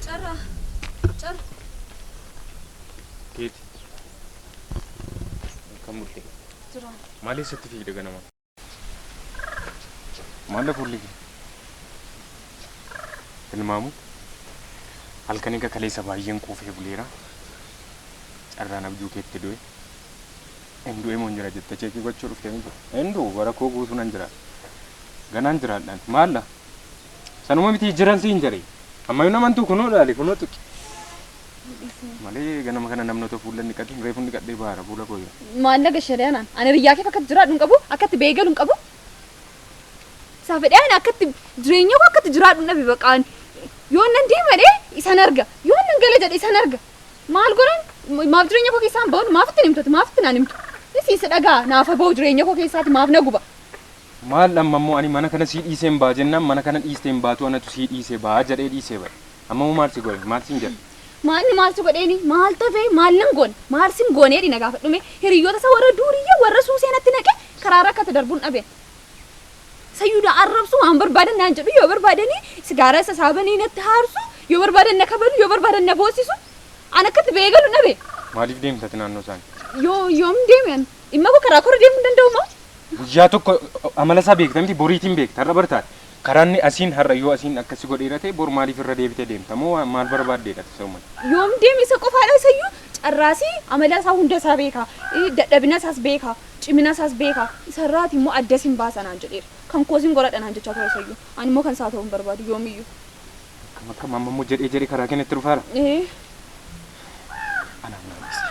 Carra. Carra. Keeti. Kan murte. Jira. Maaliif sitti fiigde ganama? Maalla fuulli kee? Tilmaamu. Halkan egaa kaleessa baay'een quufee buleera. Carraan abjuu keetti du'e. Hin du'e moo hin jira jette cheekii gochuu dhufte miti. Hin du'u bara koo guutuu nan jira. Ganaan jiraadhaan. Maalla? Sanuma miti jiran siin jedhe. Ammayyuu namantuu kunoo ilaali kunoo tuqi. Malee ganama kana namni otoo fuullan dhiqatiin reefun dhiqadhee baara fuula koo yoo. Maalla gashadee anaan ani riyyaa keef akkatti jiraadhu hin qabu akkatti beegalu hin qabu. Isaa fedhee ani akkatti jireenya koo akkatti jiraadhu hin dhabe baqaa ani. Yoon nan deemadhe isan arga yoon nan gala jedhe isan arga. Maal godhan maaf jireenya koo keessaan ba'uun maaf ittiin himtati maaf ittiin ani himtu. Isii si dhagaa naafa ba'u jireenya koo keessaati maaf na guba. Maal amma immoo ani mana kana sii dhiiseen ba'a jennaan mana kana dhiisteen baatu anatu sii dhiisee ba'a jedhee dhiisee ba'e. Amma moo maal si goone? Maal siin jedhe? Maalni maal si godheeni? Maal tafe? Maal nan goone? Maal sin goone jedhi na gaafadhu mee? Hiriyyoota isaa warra duuriyyee warra suusee natti naqe karaa irra akka itti darbun dhabe. Sayyuu na arrabsu waan barbaadan naan jedhu yoo barbaadanii sigaaraa isa isaa banii natti haarsu yoo barbaadan na kabalu yoo barbaadan na boossisu an akka itti ba'ee galu dhabe. Maaliif deemta ati naannoo isaanii? Yoo yoom deeme an dhimma koo karaa koo irra deemuu hin danda'u moo? Guyyaa tokko amala isaa beekta miti boriitiin beekta har'a bartaati. Karaanni asiin har'a yoo asiin akkas si godheera ta'e bor maaliif irra deebitee deemta moo waan maal barbaaddeedha ati isa uumate? Yoom deeme isa qofaadha isayyuu carraa isii amala isaa hunda isaa beeka dadhabina isaas beeka cimina isaas beeka isarraati immoo adda sin baasa naan jedheera kan koo sin qoradha naan jechaa ture isayyuu ani immoo kan isaa ta'uu hin barbaadu yoomiyyuu. Akkam akkam amma immoo jedhee jedhee karaa kee natti dhufaara? Ee. Anaan maal ibsita?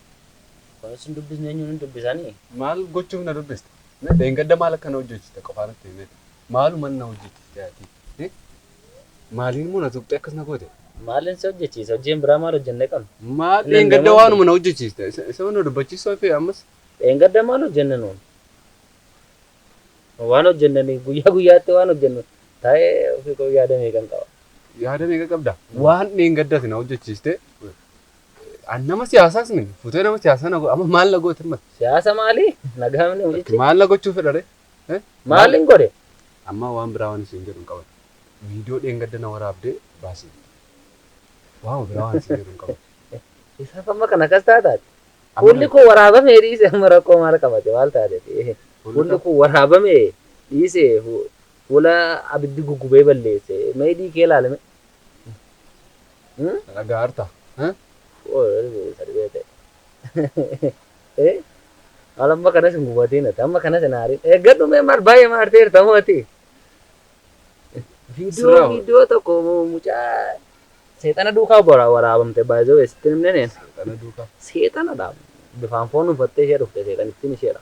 Kunis hin dubbisne eenyuun hin dubbisani? Maal gochuuf na dubbiste? Mee dheengadda maal akka na hojjechiiste qofaa natti himi mee? Maaluman na hojjechiiste ati? Hi? Maaliinmoo na tuqxee akkas na goote? Maalin si hojjechiise? Hojii hin biraa maal hojjennee qabna? Maal Hin dheengadda danda'amu. waanuma na hojjechiiste isa isuma na dubbachiisuu hafee ammas? Dheengadda maal hojjenne nuun? Waan hojjennanii guyyaa guyyaatti waan hojjennu taa'ee ofii koo yaada meeqan qaba. Yaada meeqa qabda? Waan dheengadda ati na hojjechiiste An nama siyaasaas miti. Futee nama siyaasaa na godha. Amma maal na goote mati? Siyaasa maali? Nagaa mini hojichi. Maal na gochuu fedha ree? Eh? Maal hin godhe? Amma waan biraa waan isin jedhu hin qaban. Viidiyoo dheengadda na waraabdee baasi jette. Waama biraa waan isin jedhu hin qaban. Isaaf amma kan akkas taataati. Amma Fuulli kan- koo waraabamee dhiise amma rakkoo maal qabate maal taateti? Fuulli Fuulli koo- koo waraabamee dhiise fu- fuula abiddi guggubee balleesse. Meedii kee ilaalame. Ragaa harta. Maal amma kanas hin gubatiin ati amma kanas hin haarin. Eeggadhu mee maal baay'ee maarteerta moo ati? Viidiyoo Sirraa hoo? viidiyoo tokko mucaa seexana duukaa bara- waraabamte baay'ee weessitti himne neen. Kana duuka. Seexanadha. Bifaan foon uffattee ishee dhufte seexanittiin isheedha.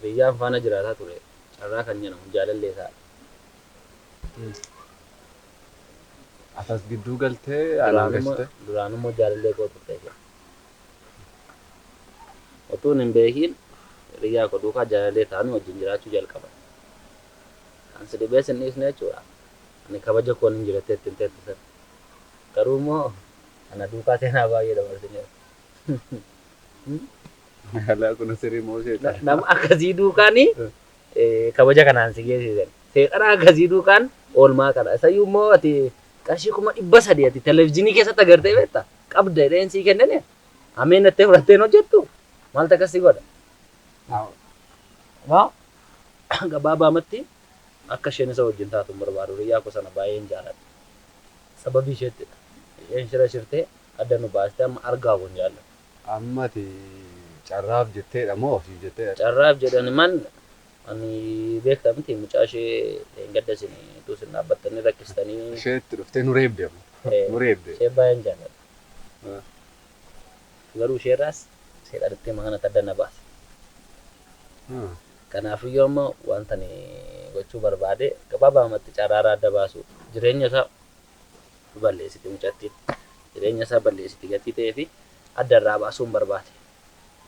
Hiriyyaan faana jiraataa ture carraa kan nyanamu jaalallee isaa dha. Atas gidduu galtee anaan Duraanuma gashite. duraanuma jaalallee koo turte isheen. Otuun hin beekiin hiriyyaa koo duukaa jaalallee taanu wajjin jiraachuu jalqaban. Kan si dhibee sin dhiisne jechuudha. Ani kabaja koon hin jirattee ittiin teette sana. Garuu immoo ana duukaa seenaa baay'ee dabarsineera. Alaa kun sirrii moo Na- seexana? nama akkasii duukaan eh, kabaja kanaan si geessisan seexana akkasii duukaan oolmaa kana isayyuu immoo ati qarshii kuma dhibba sadii ati televizyiinii keessatti agartee beekta qabda jedheen sii kennine ameen nattee fudhatteen hojjettu maaltu akkas si godha Maa gabaabaamatti akka isheen isa wajjin taatu hin barbaadu riyyaa koo sana baay'een jaaladha sababii isheettidha isheen shira shirtee adda nu baaste amma argaa kun jaalla. Amma ati carraaf jetteedha moo ofiif jetteedha? Carraaf jedhe ani mal ani beekta miti mucaa ishee dheengadda isin utuu isin dhaabbattanii rakkistanii. Ishee itti dhuftee nu reebde amma. Nu reebde. Ishee baay'een jaalladha. Garuu ishee irraas seexanittii amma kanatti adda na baase. Kanaafiyyuu amma wanta ani gochuu barbaade gabaabaamatti carraa irraa adda baasuudha. Jireenya isaa balleessite mucattiin. Jireenya isaa balleessite gatii ta'eefi adda irraa baasuun barbaade.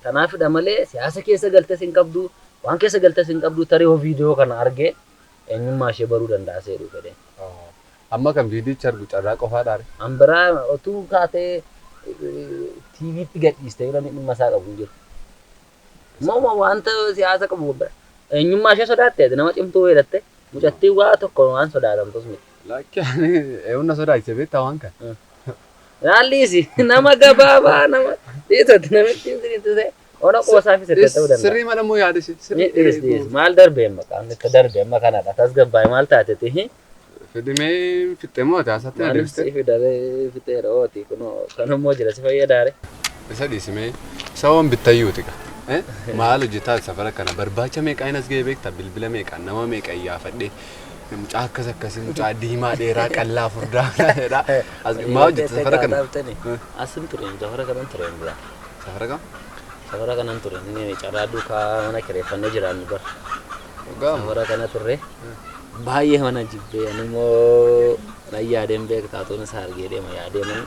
Kanaafidha malee siyaasa keessa galtes hin qabdu, waan keessa galtes hin qabdu tarii yoo viidiyoo kana arge eenyummaa ishee baruu danda'a seedhu fedhee. Amma kan viidiyicha argu carraa qofaadhaare? An biraa otuu kaatee TVtti gadhiiste yoo namni dhimma isaa qabu hin jiru. Immoo wanta siyaasa qabu eenyummaa ishee sodaatte nama cimtuu weedatte mucattiin waa tokko waan sodaatamtus miti. Lakki ani eewwan na sodaachise beektaa waan kan. Raalliisi nama gabaabaa nama dhiisatti namittiin sinitti ta'e ona qoosaa fi sirrii ta'uu danda'a. Sirrii mala immoo yaada ishee. Ni dhiis dhiis maal darbe amma qaamni itti darbe amma kanadha tasgabbaa'e maal taate tihi. Fidimee fixxee moo ati haasatti na Maanis deebiste? siif daree fixeera ooti kunoo kanammoo jira si fayyadaare. Isa dhiisimee isa waan bittayyuu tika. Maal hojjetaa safara kana barbaacha meeqaa hin as ga'e beektaa bilbila meeqaa nama meeqa iyyaafadhee Mucaa akkas akkasii mucaa diimaa dheeraa qallaa furdaa jedha. As maa hojjetta safara kana? Asin ture safara kanan ture hin dura. Safara kam? Safara kanan ture inni carraa duukaa mana kireeffannee jiraannu bar. Dhugaa moo? Safara kana turre baay'ee mana jibbee ani immoo nan yaadeen beektaa tuun isaa argee deema yaadee man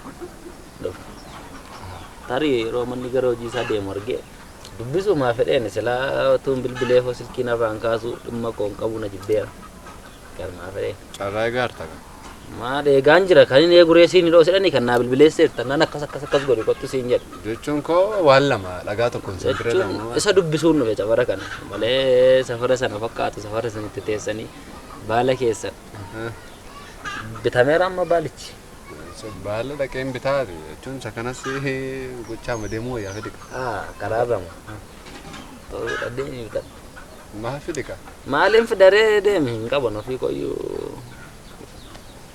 dhufa. Tarii yeroo manni gara hojii isaa deemu argee Dubbisuumaa fedheeni silaa otuun bilbileefoo silkii narraa hin kaasuu dhimma koo hin qabuu na jibbeera. Garumaa fedhee. Carraa egaa harta kan. Maal eegaan jira kan hin eeguree siin hidhoo sidhani kan naa bilbileesseef tannaan akkas akkas akkas godhi kottu siin jedhe. Jechuun koo waan lama dhagaa tokkoon sin bira Jechuun lama. isa dubbisuun dhufe safara kana malee safara sana fakkaatu safara sana itti teessanii baala keessan bitameera amma baalichi. Baala dhaqeen bitaa jechuun isa kanas gochaama deemuu wayyaa fedhi qaba. Ah, karaarra moo? Ta'uudha deemi bitadhu. Maa fedhi qaba. Maaliin fidaree deemi hin qaban ofii qoyyuu.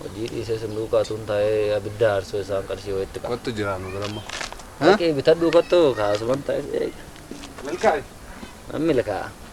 Hojii dhiisee sin duukaa tuun taa'ee abidda aarsoo isaan qarshii wayitti qaba. Kottu jira nu bira immoo. Dhaqii bitadhuu kottu kaasuman taa'ee eega. Milkaa'e. Mammila kaa'a.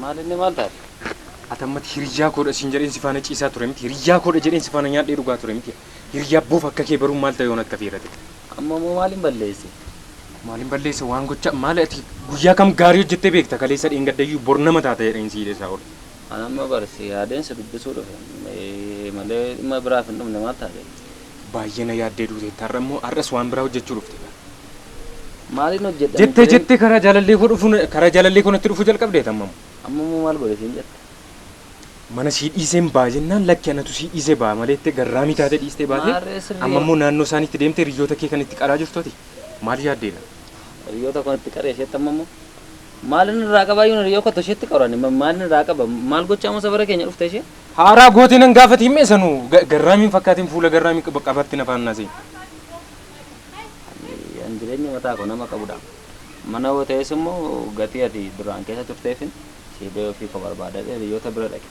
Maalinni maal taate? Ati ammatti hiriyyaa koodha siin jedheen si faana ciisaa ture miti. Hiriyyaa koodha jedheen si faana nyaadhee dhugaa ture miti. Hiriyyaa bofa akka kee baruun maal ta'e yoon akka fiira ta'e. Amma moo maalin balleesse? Maalin balleesse waan gocha maali ati guyyaa kam gaarii hojjettee beekta kaleessa dheengaddayyuu bor nama taata jedheen si hidheessaa oole. An amma bar si yaadeen si dubbisuu dhufe malee dhimma biraaf hin dhufne maal taate? Baay'ee na yaaddee duuteetta har'a immoo har'as waan biraa hojjechuu dhufte gaa. Maaliin hojjedha Jettee misireen? jettee karaa jaalallii koo dhufu karaa jaalallii koo natti dhufu jalqabdeet ammam. Amma immoo maal godhe siin jette? Mana sii dhiiseen ba'a jennaan lakki anatu sii dhiisee ba'a malee jettee garraamii taatee dhiistee baate Maarree sirrii amma immoo naannoo isaaniitti deemtee hiriyyoota kee kan itti qaraa jirtu ati maal yaaddee laa? Hiriyyoota koon itti qaree isheetti amma immoo maaliin irraa qabaa yoon hiriyyoo kottu isheetti qaru ani ma- maaliin irraa qaba maal gochaa immoo safara keenya dhufte ishee? Haaraa gootee nan gaafati himmee sanuu ga- garraamiin fakkaatiin fuula garraamii qaba- qabaatti nafaan naasee. An jireenya mataa koo nama qabudha. Mana yoo ta'es immoo gatii ati duraan keessa turteefin sii ba'ee ofii koo barbaadadhee hiriyoota bira dhaqe.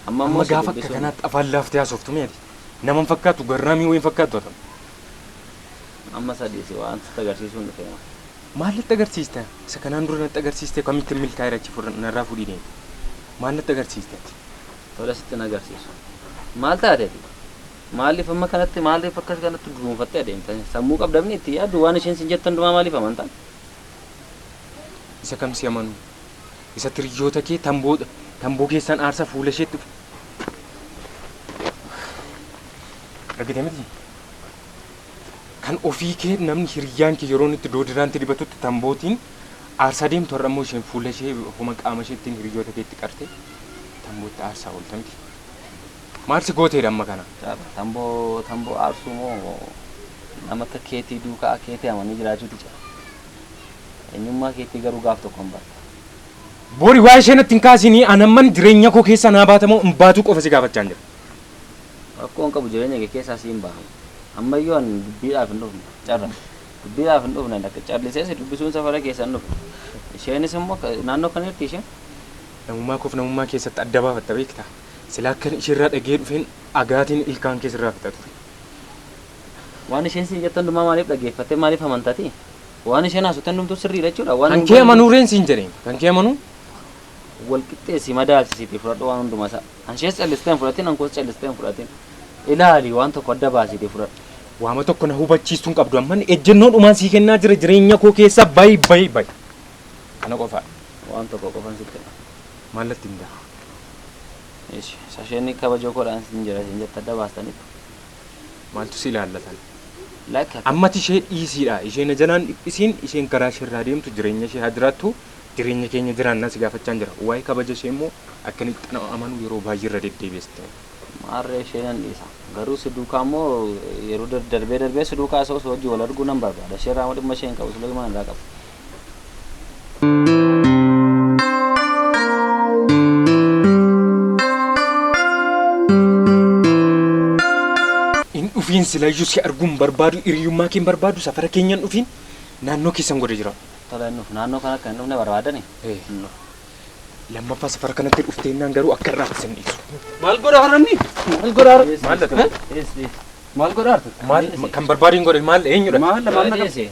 Amma immoo Amma si gaafa akka dubbisuun kanaatti afaan laaftee haasoftu mee ati? Nama hin fakkaattu garraamii wayii hin fakkaattu ati amma. amma sadii si waan sitti agarsiisuun dhufe maa. Maal natti agarsiista? Isa kanaan dura natti agarsiiste kamittiin milkaa'eera achi fudhan- narraa fudhii deemi. Maal natti agarsiiste ati? Tole sittin agarsiisu. Maal taate ati? Maaliif amma kanatti maaliif akkas kanatti dunuunfattee adeemta? Sammuu qabda mini itti yaaddu waan isheen sin jette hundumaa maaliif amanta? Isa kam si amanuu? Isa tiriyyoota kee tamboo tamboo keessan aarsa fuula isheetti dhufe. Argite miti? Kan ofii kee namni hiriyyaan kee yeroo inni itti doodiraan itti dibatutti tambootiin aarsaa deemtu har'a immoo isheen fuula ishee homa qaama isheettiin hiriyyoota keetti qarte tambootti aarsaa oolta miti? Maal si gooteedha amma kana? Caala, Tamboo, tamboo aarsuu moo nama akka keetii duukaa keetii amanii jiraachuuti caala? Eenyummaa keetii garuu gaaf tokkon barta. Bori waa'ee ishee natti hin kaasiinii an amman jireenya koo keessaa naa baata moo hin baatuu qofa si gaafachaan jira. Rakkoo hin qabu jireenya kee keessaa siin baha. Amma iyyuu an dubbiidhaaf hin dhufne. Carra, Dubbiidhaaf hin dhufne lakki callisee si dubbisuun safara keessa hin dhufe. Isheenis immoo naannoo kana jirtii isheen? Namummaa koof namummaa keessatti adda baafatta beektaa? Silaa akkan isheerraa dhagahee dhufeen agaatiin ilkaan kee sirraa fixa ture. Waan isheen siin jettu hundumaa maaliif dhaggeeffattee maaliif amantati? Waan isheen haasofte hundumtuu sirriidha jechuudha. Waan Kan hin kee goone- amanuu reen siin jedheen. Kan kee amanuu? wal qixxeessi madaalchisiitii fudhadhu waan hundumaa isaa. An ishees callistee hin fudhatin, an koos callistee hin fudhatin. Ilaali waan tokko adda baasiitii fudhadhu. Waama tokko na hubachiistuu hin qabdu amman ejjennoo dhumaan sii kennaa jira jireenya koo keessaa bayi bayi bayi. Kana qofaa. Waan tokko qofan sitti hima. Maal natti himta? Eshi sasheni kabajo kodhaan sin jira isin jette adda baastanitu. Maaltu si ilaallatan? Like akka. Ammati ishee dhiisiidha ishee na jalaan dhiphisiin isheen karaa ishee irraa deemtu jireenya ishee haa jiraattu jireenya keenya jiraannaa si gaafachaan jira waa'ee kabaja ishee immoo akka inni itti nama amanu yeroo baay'ee irra deddeebiiste Maarree ishee nan dhiisa. Garuu si duukaa immoo yeroo dar- darbee darbee si duukaa isa osoo hojii wal arguu nan barbaada. Ishee irraa immoo dhimma ishee hin qabu. Suleymaan irraa qaba. Hin dhufiin silayyuu si arguun barbaadu hiriyummaa keen barbaadu safara keenyan dhufiin naannoo keessan godhe jira. Tola hin dhufu. Naannoo kana akka hin dhufne barbaadani? Eh. Hin dhufu. Lammaffaa safara kanatti dhufteennaan garuu akka irraa isin dhiisu. Maal godha harranni? Maal godha harra? Maal dha ta'e? Maal godha harra? Maal kan barbaadu hin godhe maal eenyudha? Maal maal na qabsiise?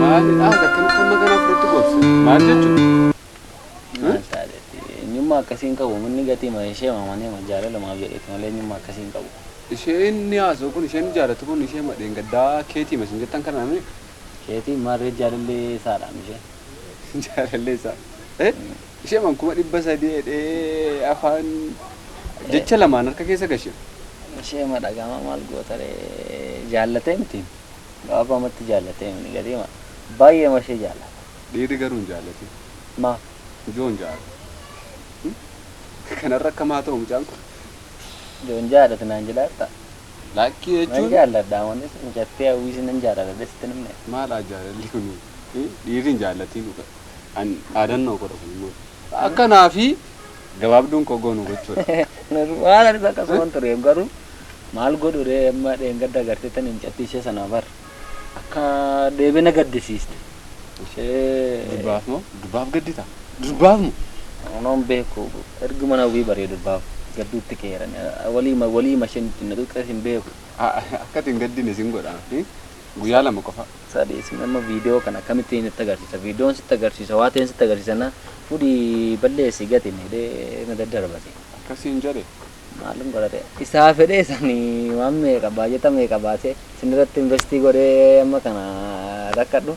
Maalidha akkamitti amma kana fudhatti goobse? Maal jechuudha? Maal taatetti? Eenyummaa akkasii hin qabu. Manni gatii ma ishee maamanee ma jaalalumaaf jedheeti malee eenyummaa akkasii hin qabu. Isheen ni haasa'u kun isheen jaalatu kun ishee madheen gaddaa keetii masin jettan kana namni Keetii maarree jaalallee isaadhaam ishee. jaalallee isaa. Eh? Ishee man kuma dhibba sadii jedhee afaan jecha lamaan harka keessa gashe. Ishee ma dhagama maal goota ree jaallatee miti gabaabaa matti jaallatee miti gatii ma baay'ee ma ishee jaallata. Dhiirri garuu hin jaallatin. Maaf? Joon jaadha. Kanarra akkam haa ta'u mucaan kun. Joon jaadhati naan jedhaa jirtaa? Laakkii Nan jechuun jaalladha amanis mucattii hawwiis nan jaalladha sitti hin himne. maal haa jaalalli kun dhiirri hin jaallatin dhuga. an dhaadannoo koodha kun immoo akka naa fi gabaabduun koo goonu gochuudha. Waan anis akkasuman ture garuu maal godhu ree amma dheengadda agartee tan hin cattii ishee sanaa bar akka deebee na gaddisiiste ishee Durbaaf moo durbaaf gaddita durbaaf moo Onoon beeku ergi mana wii baree durbaaf gadduutti keeran walii walii masheen ittiin na xuqqees hin beeku. akkati hin gaddine sin godha guyyaa lama qofa. Sadi isin amma video kan akkamittiin itti agarsiisa videon sitti agarsiisa waa ta'een sitti agarsiisa na fudhi balleessi gati jedhe na daddarbate. Akkas siin jedhe. Maalin godhate isaa fedhee sani waan meeqa baajata meeqa baasee sinirratti investii godhee amma kana rakkadhu.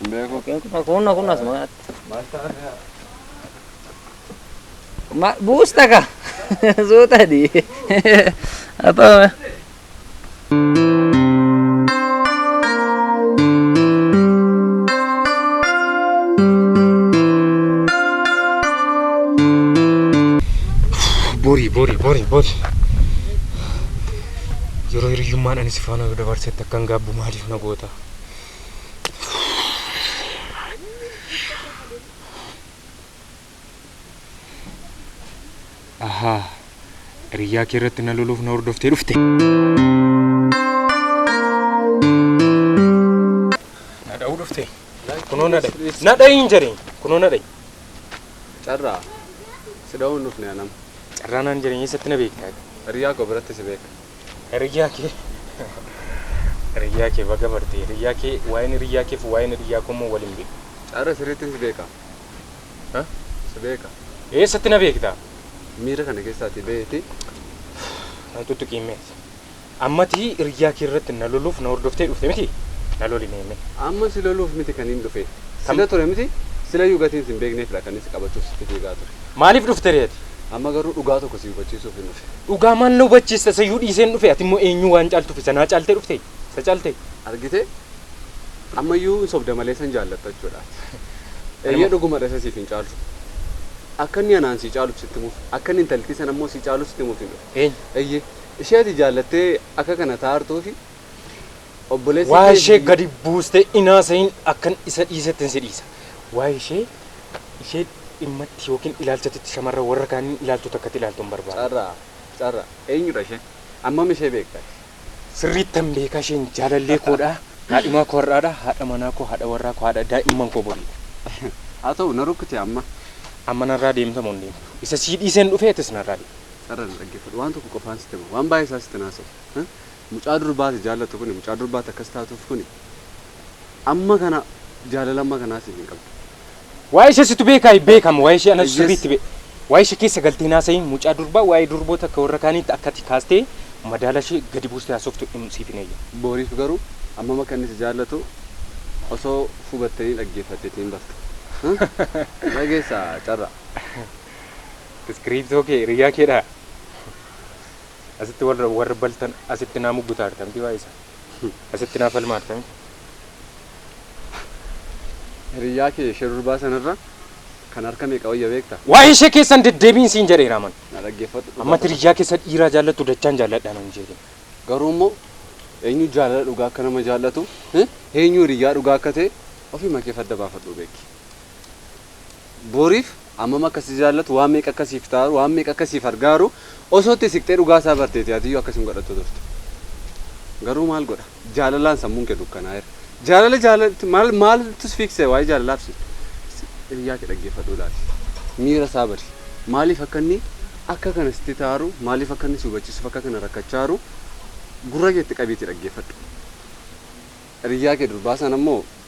Hin beeku. Yookiin kun kun kun asuma kanatti. Maal ta'a kaa? Ma buusta ka suuta di. Apa? Borii borii borii borii. Yeroo hiriyyummaan ani si faana dabarsetti akkan gaabbu maaliif na goota? Ahaa, hiriyyaa kee irratti na loluuf na hordoftee dhufte. Na dha'uu dhufte. Kunoo na dha'i. Na dha'i hin jedhin. Kunoo na dha'i. Carraa. Si dha'uun dhufne anam. Carraa naan jedhin eessatti na beektaa? Hiriyyaa koo biratti si beeka. Hiriyyaa kee hiriyyaa kee baga barte hiriyyaa kee waa'een hiriyyaa keef waa'een hiriyyaa koo immoo waliin beeku. Cara sirriitti si beeka. Ha? Si beeka. Eessatti na beekta? Miira kana keessaa ati beeti. Nan tuttuqii mee. Ammati hiriyyaa kee irratti na loluuf na hordoftee dhufte miti? Na loli mee mee. Amma si loluuf miti kan hin dhufe. Sila ture miti? Silayyuu gatiin sin beekneefidha kan si qabachuuf sitti fiigaa ture. Maaliif dhufte ree ati? Amma garuu dhugaa tokko si hubachiisuufin dhufe. Dhugaa maal na hubachiista isayyuu dhiiseen dhufe ati immoo eenyuu waan caaltuuf isa naa caaltee dhufte isa caaltee. Argitee? Ammayyuu hin sobda malee isan jaallatta jechuudha ati. Eeyyee dhugumadha isa siif hin caaltu. Akka inni anaan sii caaluuf sitti himuuf akka inni intalittii sana immoo sii caaluuf sitti himuufin dhufe. Eenyu? Eeyyee ishee ati jaallattee akka kana taa'aa jirtuufi Obboleessi Waa'ee kee ishee biyya- gadi buustee inaasa'iin akkan isa dhiisetti si dhiisa. Waa'ee ishee ishee dhimmatti yookiin ilaalchatitti shamarran warra kaaniin ilaaltu takkatti ilaaltu hin barbaadu. Carraa. Carraa. Eenyudha isheen? Ammam ishee beekta ati? Sirriittan beeka isheen jaalallee koodha. Kaadhimaa koo har'aadha. Haadha manaa koo, haadha warraa koo, haadha daa'imman koo boriidha. Haa ta'u na rukkute amma. Amma narraa deemta moo hin deemtu? Isa sii dhiiseen dhufee atis narraa deemi. Carraa na dhaggeeffadhu. Waan tokko qofaan sitti hima. Waan baay'ee isaa sitti hin haasa'u. Mucaa durbaa ati jaallattu kuni mucaa durbaa ati akkas taatuuf kuni amma kana jaalala amma kanaa siif hin qabdu. Waa'ee ishee situ beekaa hin beekamu waa'ee ishee anatu sirriitti be waa'ee ishee keessa galtee hin haasa'iin mucaa durbaa waa'ee durboota akka warra kaaniitti akka ati kaastee madaala ishee gadi buustee haasoftu hin siif hin heeyyamu. Boriif garuu ammam akka inni si jaallatu osoo hubattanii dhaggeeffatteetii hin bartu. Dhageessaa carraa. Iskiriiptoo kee hiriyyaa keedhaa? Asitti warra warra baltan asitti naa muggutaa artamti waa isa. Asitti naa falmaa artamti. Hiriyyaa kee ishee durbaa sanarra kan harka meeqa wayya beekta? Waa'ee ishee keessan deddeebiin siin jedheera aman. Na dhaggeeffadhu dhugaa Amma qofa. hiriyyaa keessa dhiiraa jaallattu dachaan jaalladhaa nan jeetiin. Garuu immoo eenyu jaalala dhugaa akka nama jaallatu? Eenyu hiriyyaa dhugaa akka ta'e ofii makee fadda baafadhuu beeki. Boriif hammam akka si jaallatu, waan meeqa akka siif taaru, waan meeqa akka siif argaaru osoo itti siqxee dhugaa isaa barteeti atiyyuu akkas hin godhattu turte. Garuu maal godha? Jaalalaan sammuun kee dukkanaa'eera. Jaalala jaalatti maal maaltu si fiiksee waa'ee jaalalaaf si hiriyaa kee dhaggeeffadhu ilaali. Miira isaa bari. Maaliif akka inni akka kana sitti taaru, maaliif akka inni si hubachiisuuf akka kana rakkachaaru gurra keetti qabiitii dhaggeeffadhu. Hiriyaa kee durbaa sana immoo